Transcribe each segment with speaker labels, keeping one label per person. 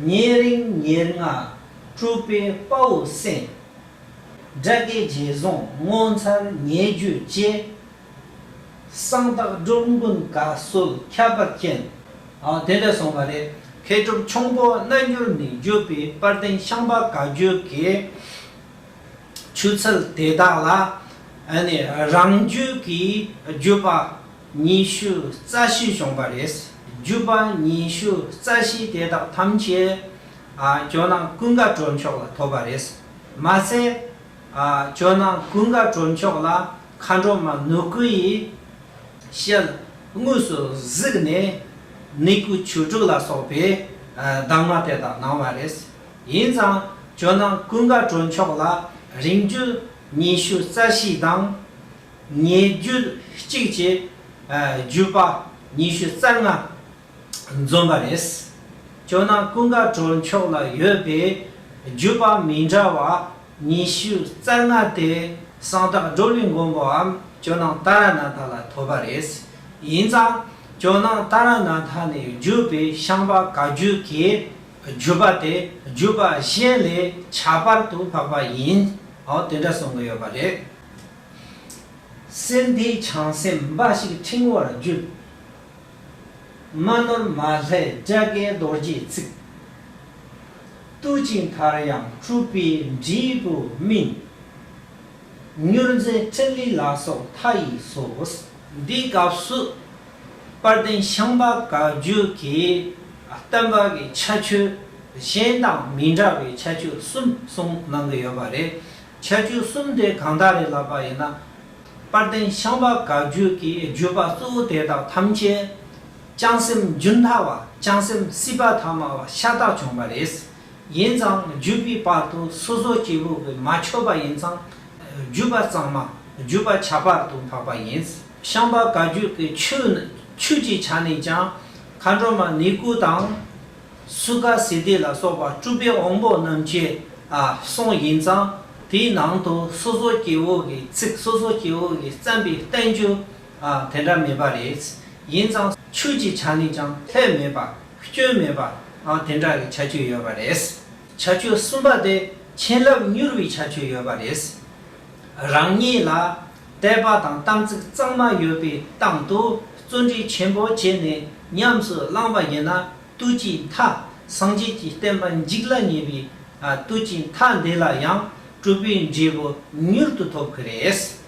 Speaker 1: ཉེ་རིང་ཉེར་ལྔ་སྤྲུལ་པའི་དཔའ་བོ་སེང། དགྲ་བགེགས་རྗེས་བཟུང་ངོ་མཚར་ཉེ་བརྒྱུད་བཅས། གསང་བདག་སྒྲུབ་མགོན་བཀའ་སྲོལ་ཁྱད་པར་ཅན། དེ་འདྲ་སོང་བ་རེད། མཁས་གྲུབ་ཁྱུང་པོ་རྣལ་འབྱོར་ནས་བརྒྱུད་པའི་དཔལ་ལྡན་ཤངས་པ་བཀའ་བརྒྱུད་ཀྱི་ཆོས་ཚུལ་དེ་དག་ལ། རང་རྒྱུད་ཀྱི་བརྒྱུད་པ་ཉི་ཤུ་རྩ་བཞི་བཤོངས་པ་རེད། བརྒྱུད་པ་ཉི་ཤུ་རྩ་བཞི་དེ་དག་ཐམས་ཅད་ཇོ་ནང་ཀུན་དགའ་གྲོལ་མཆོག་ལ་ཐོབ་པ་རེད། མ་ཟད། ཇོ་ནང་ཀུན་དགའ་གྲོལ་མཆོག་ལ་མཁའ་འགྲོ་མ་ནུ་གུ་ཡིས་ཞལ་དངོས་སུ་གཟིགས་ནས་ནི་གུ་བྱུ་དྲུག་ལ་སོགས་པའི་གདམས་ངག་དེ་དག་གནང་བ་རེད། ཡིན་ཙང་ཇོ་ནང་ཀུན་དགའ་གྲོལ་མཆོག་ལ་རིང་བརྒྱུད་ཉི་ཤུ་རྩ་བཞི་དང། ཉེ་བརྒྱུད་གཅིག་བཅས་བརྒྱུད་པ་ཉི་ཤུ་རྩ་ལྔ་འཛོམས་པ་རེད། ཇོ་ནང་ཀུན་དགའ་གྲོལ་མཆོག་ལ་ཡོད་པའི་བརྒྱུད་པ་མི་འདྲ་བ་ཉི་ཤུ་རྩ་ལྔ་དེ་གསང་བདག་བགྲོ་གླིང་མགོན་པོའམ་ཇོ་ནང་ཏཱ་ར་ནཱ་ཐ་ལ་ཐོབ་པ་རེད། ཡིན་ཙང་ཇོ་ནང་ཏཱ་ར་ནཱ་ཐ་ནས་བརྒྱུད་པའི་ཤངས་པ་ག་རྒྱུད་ཀྱི་བརྒྱུད་པ་དེ་བརྒྱུད་པ་གཞན་ལས་ཁྱད་པར་དུ་འཕགས་པ་ཡིན། འོ་དེ་འདྲ་གསུང་གི་ཡོད་པ་རེད། སེམས་དེའི་བྱང་སེམས་འབའ་ཞིག་ཕྲེང་བར་བརྒྱུད། མ་ནོར་མ་ལྷའི་བཛྲ་ཀའི་རྡོ་རྗེའི་ཚིག། བཏུ་ཅིང་མཐར་ཡང་གྲུབ་པའི་འབྲས་བུ་སྨིན། མྱུར་མཛད་ཕྲིན་ལས་ལ་སོགས་མཐའ་ཡས་སོ། འདིའི་སྐབས་སུ་དཔལ་ལྡན་ཤིང་པ་ག་རྒྱུད་ཀྱི་སྟོན་པ་གྱི་ཁྱད་ཆོས་གཞན་དང་མི་འདྲ་བའི་ཁྱད་ཆོས་གསུམ་གསུངས་གནང་གི་ཡོད་པ་རེད། ཆ་རྒྱུས་གསུམ་དེ་གང་དག་རེད་ལབ་པ་ཡིན་ན། པར་ལྡན་ཤངས་པ་དགག་བརྗོད་ཀྱི་བརྗོད་པ་གཙོ་བོ་དེ་དག་ཐམས་ཅད། བྱང་སེམས་རྒྱུན་མཐའ་བ་བྱང་སེམས་སྲིད་པ་ཐ་མ་བ་ཤ་སྟག་བྱུང་བ་རེད། ཡིན་ཙང་བརྒྱུད་པའི་བར་དུ་སོ་སོ་སྐྱེ་བོ་བས་མ་ཆོད་པ་ཡིན་ཙང། བརྒྱུད་པ་གཙང་མ་བརྒྱུད་པ་བྱ་བར་དུ་འཕགས་པ་ཡིན། ཤངས་པ་དགག་བརྗོད་ཀྱི་ཆོས་ནི་ཆོས་ཀྱི་ཆ་ནས་ཀྱང། མཁའ་འགྲོ་མ་ནི་སྐུ་དང། སུ་ཀ་སི་སྡེ་ལ་སོགས་པ་སྤྲུལ་པའི་དབང་པོ་རྣམས་ཀྱི་གསུང་ཡིན་ཙང་དེའི་ནང་དུ་སོ་སོ་སྐྱེ་བོ་གི་ཚིག་སོ་སོ་སྐྱེ་བོ་གི་བརྩམས་པའི་བསྟན་བཅོས་དེ་འདྲ་མེད་པ་རེད། ཡིན་ཙང་ཆོས་ཀྱི་ཆ་ནས་ཀྱང་ལྷད་མེད་པ་སྐྱོན་མེད་པ་དེ་འདྲ་གི་བྱ་སྤྱོད་ཡོད་པ་རེད། བྱ་སྤྱོད་གསུམ་པ་དེ་བྱིན་རླབས་མྱུར་བའི་བྱ་སྤྱོད་ཡོད་པ་རེད། རང་ཉིད་ལ་དད་པ་དང་དམ་ཚིག་གཙང་མ་ཡོད་པའི་སྟངས་དུ་བརྩོན་འགྲུས་ཆེན་པོ་བྱས་ནས་ཉམས་སུ་བླངས་པ་ཡིན་ན་བཏུལ་གྱི་མཐའ་སངས་རྒྱས་ཀྱི་བསྟན་པ་འཇིག་ལ་ཉེ་བས་བཏུལ་གྱི་མཐའ་འདི་ལ་ཡང་གྲུབ་པའི་འབྲས་བུ་མྱུར་དུ་ཐོབ་གི་རེད།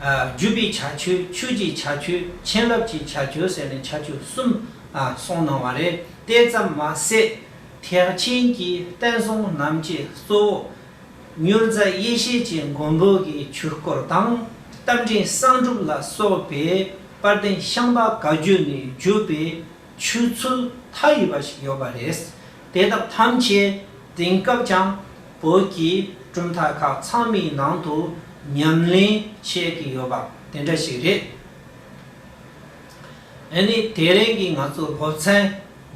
Speaker 1: བརྒྱུད་པའི་བྱ་ཆོས་ཆོས་ཀྱི་བྱ་ཆོས་བྱིན་རླབས་ཀྱི་བྱ་ཆོས་ཟེར་ནས་བྱ་ཆོས་གསུམ་གསུངས་གནང་བ་རེད་དེ་ཙམ་མ་ཟད་ཐེག་ཆེན་གྱི་བསྟན་སྲུང་རྣམས་ཀྱི་གཙོ་བོ་མྱུར་མཛད་ཡེ་ཤེས་ཀྱི་མགོན་པོ་གི་ཆོས་སྐོར་དང་རྟ་མགྲིན་གསང་སྒྲུབ་ལ་སོགས་པའི་དཔལ་ལྡན་ཤངས་པ་ག་རྒྱུད་ནས་བརྒྱུད་པའི་ཆོས་ཚུལ་མཐའ་ཡས་པ་ཞིག་ཡོད་པ་རེད། དེ་དག་ཐམས་ཅད་དེང་སྐབས་ཀྱང་བོད་ཀྱི་གྲུབ་མཐའ་ཁག་ཚང་མའི་ནང་དུ་ཉམས་ལེན་བྱེད་ཀྱི་ཡོད་པ་དེ་འདྲ་ཞིག་རེད། ཨེ་ནི་དེ་རིང་གི་ང་ཚོའི་སློབ་ཚན་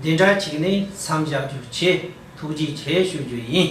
Speaker 1: འདི་འདྲ་ཅིག་ནས་མཚམས་བཞག་རྒྱུ་ཆེས་ཐུགས་རྗེ་ཆེ་ཞུ་རྒྱུ་ཡིན།